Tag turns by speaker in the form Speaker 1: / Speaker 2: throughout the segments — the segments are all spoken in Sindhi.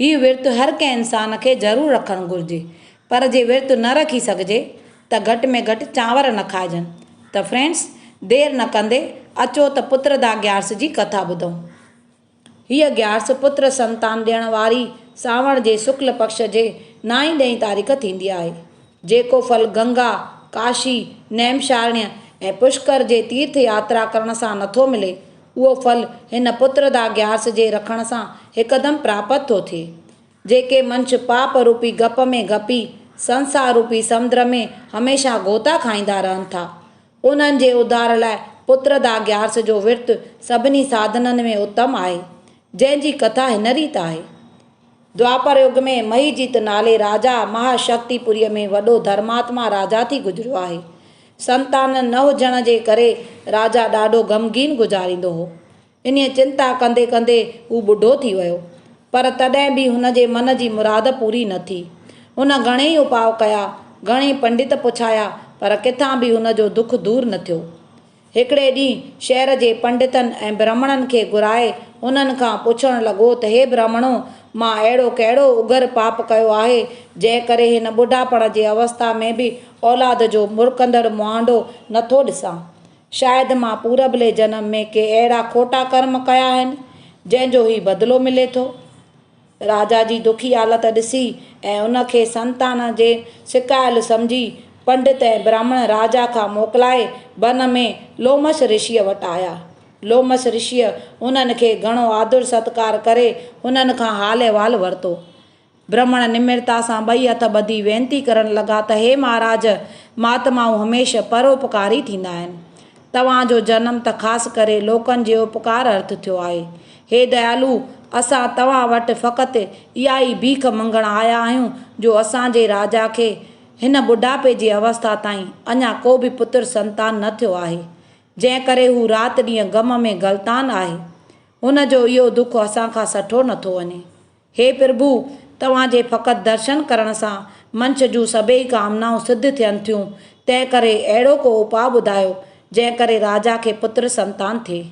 Speaker 1: هي ورت هر ڪنهن انسان کي ضرور رکڻ گهرجي پر جي ورت نه رکي سگهجي ته گهٽ ۾ گهٽ چانور نه کائجن ته فرينڊس دير نه ڪندي اچو ته پتردا گيارس جي ڪٿا ٻڌون. هيء گيارس پتر سنتان ڏيڻ واري سانوڻ جي سڪل پڪش جي نائين ڏهين تاريخ ٿيندي آهي جيڪو ڦل گنگا، ڪاشي، نيمشارڻيء ۽ پشڪر جي تيرٿ ياترا ڪرڻ سان نٿو ملي اهو ڦل هن پتر دا گيارس جي رکڻ سان هڪدم پراپت ٿو ٿئي. جيڪي منش پاپ روپي گپ ۾ گپي سنسار روپي سمدر ۾ هميشه غوطا کائيندا رهن ٿا، انهن جي اڌار لاء پتر دا گيارس جو ورت سڀني ساڌنن ۾ اتم آهي، جنهن جي ڪٿا هن ريت آهي. دوآپر يگ ۾ مهيجيت نالي راجا مهاشڪتيپوريء ۾ وڏو ڌرماتما راجا ٿي گذريو آهي. سنتان نه هجڻ جي ڪري راجا ڏاڍو غمگين گذاريندو هو. انهيء چنتا ڪندي ڪندي هو ٻڍو ٿي ويو. پر تڏهن به هن جي من جي مراد پوري نه ٿي. هن گهڻيئي اپاء ڪيا، گهڻيئي پنڊت پڇايا، پر ڪٿان به هن جو دک دور نه ٿيو. هڪڙي ڏينهن شهر جي پنڊتن ۽ برهمڻن کي گهرائي انهن کان پڇڻ لڳو ته هي برهمڻو! مان اهڙو ڪهڙو اگهر پاپ ڪيو آهي، جنهن ڪري هن ٻڍاپڻ جي اوستا ۾ به اولاد جو مرڪندڙ مهانڊو نه ٿو ڏسان؟ شايد مان پورڀلي جنم ۾ ڪي اهڙا کوٽا ڪرم ڪيا آهن، جنهن جو هي بدلو ملي ٿو. راجا جي دکي حالت ڏسي ۽ ان کي سنتان جي سڪايل سمجهي پنڊت ۽ براهمڻ راجا کان موڪلائي بن ۾ لومش رشيء وٽ آيا. لومش رشيء انهن کي گهڻو آڌر ستڪار ڪري انهن کان حال احوال ورتو. برهمڻ نمرتا سان ٻئي هٿ ٻڌي وينتي ڪرڻ لڳا ته هي مهاراج! مهاتمائون هميشھ پروپڪاري ٿيندا آهن. توهان جو جنم ته خاص ڪري لوڪن جي اپڪار ارٿ ٿيو آهي. هي ديالو! اسان توهان وٽ فقط اها ئي ڀيک منگڻ آيا آهيون جو اسان جي راجا کي هن ٻڍاپي جي اوسٿا تائين اڃا ڪو به پتر سنتان نه ٿيو آهي، جنهن ڪري هو رات ڏينهن غم ۾ غلطان آهي. هن جو اهو دک اسان کان سٺو نٿو وڃي. هي پرڀو! توهان جي فقط درشن ڪرڻ سان منش جون سڀيئي ڪامنائون سڌ ٿين ٿيون، تنهن ڪري اهڙو ڪو اپاء ٻڌايو، جنهن ڪري راجا کي پتر سنتان ٿئي.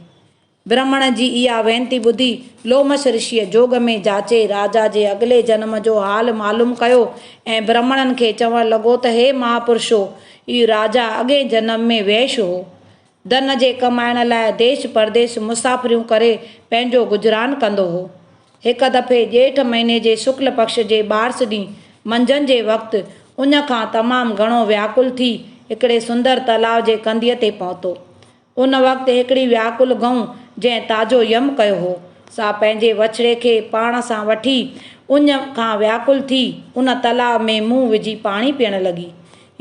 Speaker 1: برهمڻ جي اها وينتي ٻڌي، لومش رشيء جوڳ ۾ جاچي راجا جي اڳلي جنم جو حال معلوم ڪيو ۽ برهمڻن کي چوڻ لڳو ته هي مهاپرشو! اهو راجا اڳئين جنم ۾ ويش هو. ڌن جي ڪمائڻ لاء ديش پرديش مسافريون ڪري پنهنجو گذران ڪندو هو. هڪ دفعي ڄيٺ مهيني جي شڪل پڪش جي ٻارس ڏينهن منجهند جي وقت اڃ کان تمام گهڻو وياڪل ٿي هڪڙي سندر تلاء جي ڪنڌيء تي پهتو. ان وقت هڪڙي وياڪل گئون جنهن تازو يم ڪيو هو، سا پنهنجي وڇڙي کي پاڻ سان وٺي اڃ کان وياڪل ٿي ان تلاء ۾ منهن وجهي پاڻي پيئڻ لڳي.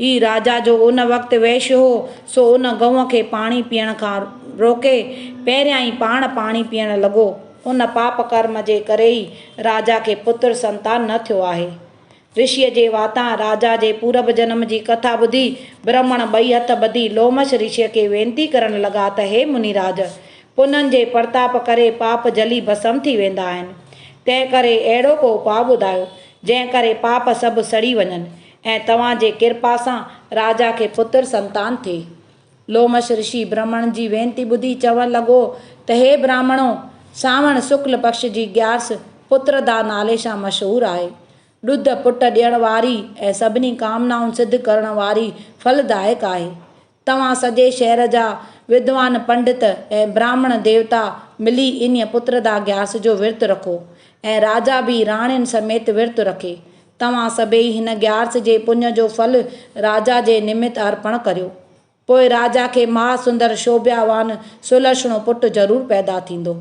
Speaker 1: هي راجا جو ان وقت وحش هو، سو ان گئونء کي پاڻي پيئڻ کان روڪي، پهريان ئي پاڻ پاڻي پيئڻ لڳو. ان پاپ ڪرم جي ڪري ئي راجا کي پتر سنتان نه ٿيو آهي. رشيء جي واتان راجا جي پورب جنم جي ڪٿا ٻڌي، برهمڻ ٻئي هٿ ٻڌي لومش رشيء کي وينتي ڪرڻ لڳا ته هي مني راج! پنن جي پرتاپ ڪري پاپ جلي ڀسم ٿي ويندا آهن. تنهن ڪري اهڙو ڪو اپاء ٻڌايو، جنهن ڪري پاپ سڀ سڙي وڃن. ۽ توهان جي ڪرپا سان راجا کي پتر سنتان ٿئي. لومش رشي برهمڻ جي وينتي ٻڌي چوڻ لڳو ته هي برهمڻو! سانوڻ سڪل پڪش جي گيارس پتردا نالي سان مشهور آهي. ڏڌ پٽ ڏيڻ واري ۽ سڀني ڪامنائون سڌ ڪرڻ واري ڦل دائڪ آهي. توهان سڄي شهر جا ودوان پنڊت ۽ براهمڻ ديوتا ملي انهيء پتردا گياس جو ورت رکو ۽ راجا به راڻين سميت ورت رکي. توهان سڀيئي هن گيارس جي پڃ جو ڦل راجا جي نمت ارپڻ ڪريو. پوء راجا کي مها سندر شوڀيا وان سلهشڻو پٽ ضرور پيدا ٿيندو.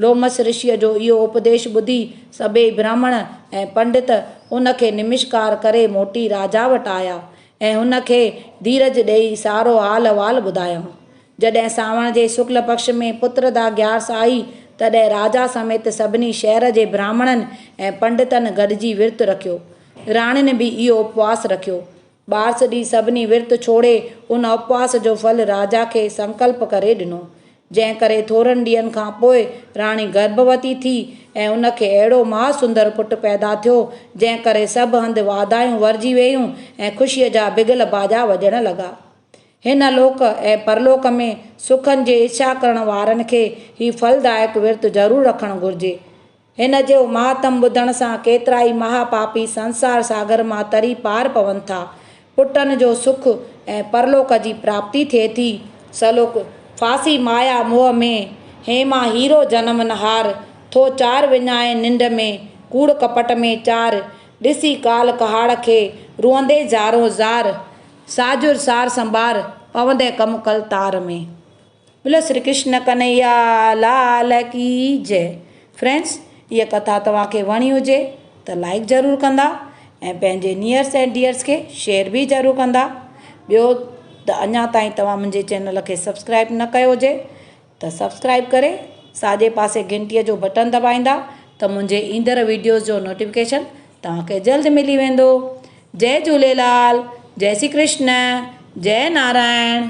Speaker 1: لومس رشيء جو اهو اپديش ٻڌي سڀيئي برهمڻ ۽ پنڊت ان کي نمشڪار ڪري موٽي راجا وٽ آيا ۽ هن کي ڌيرج ڏيئي سارو حال احوال ٻڌايائون. جڏهن سانوڻ جي سڪل پڪش ۾ پتردا گيارس آئي، تڏهن راجا سميت سڀني شهر جي برهمڻن ۽ پنڊتن گڏجي ورت رکيو. راڻين به اهو اپواس رکيو. ٻارس ڏينهن سڀني ورت ڇوڙي ان اپواس جو ڦل راجا کي سنڪلپ ڪري ڏنو. جنهن ڪري ٿورن ڏينهن کان پوء راڻي گرڀوتي ٿي ۽ ان کي اهڙو مها سندر پٽ پيدا ٿيو، جنهن ڪري سڀ هنڌ واڌايون ورجي ويون ۽ خوشيء جا بگل باجا وڄڻ لڳا. هن لوڪ ۽ پرلوڪ ۾ سکن جي اڇا ڪرڻ وارن کي هي ڦلدائڪ ورت ضرور رکڻ گهرجي. هن جو مهاتم ٻڌڻ سان ڪيترائي مها پاپي سنسار ساگر مان تري پار پون ٿا. پٽن جو سک ۽ پرلوڪ جي پراپتي ٿئي ٿي. سلوڪ، ڦاسي مايا موهه ۾، هيما هيرو جنم نه هار، ٿو چار وڃائين ننڊ ۾، ڪوڙ ڪپٽ ۾ چار، ڏسي ڪال ڪهاڙ کي، روئندي زارون زار، ساجر سار سنبار، پوندين ڪم ڪل تار ۾. بولو شري ڪرشن ڪنهيا لال ڪي جئ فرينڊس هيء ڪٿا توهان کي وڻي هجي ته لائيڪ ضرور ڪندا ۽ پنهنجي نيئرس ۽ ڊيئرس کي شيئر به ضرور ڪندا ٻيو ته اڃا تائين توهان منهنجي چينل کي سبسڪرائيب نه ڪيو هجي ته سبسڪرائيب ڪري ساڄي پاسي گهنٽي جو بٽڻ دٻائيندا ته منهنجي ايندڙ ويڊيوز جو نوٽيفڪيشن توهان کي جلد ملي ويندو جئ جهوليلال جئ شري ڪرشن جئ نارائڻ.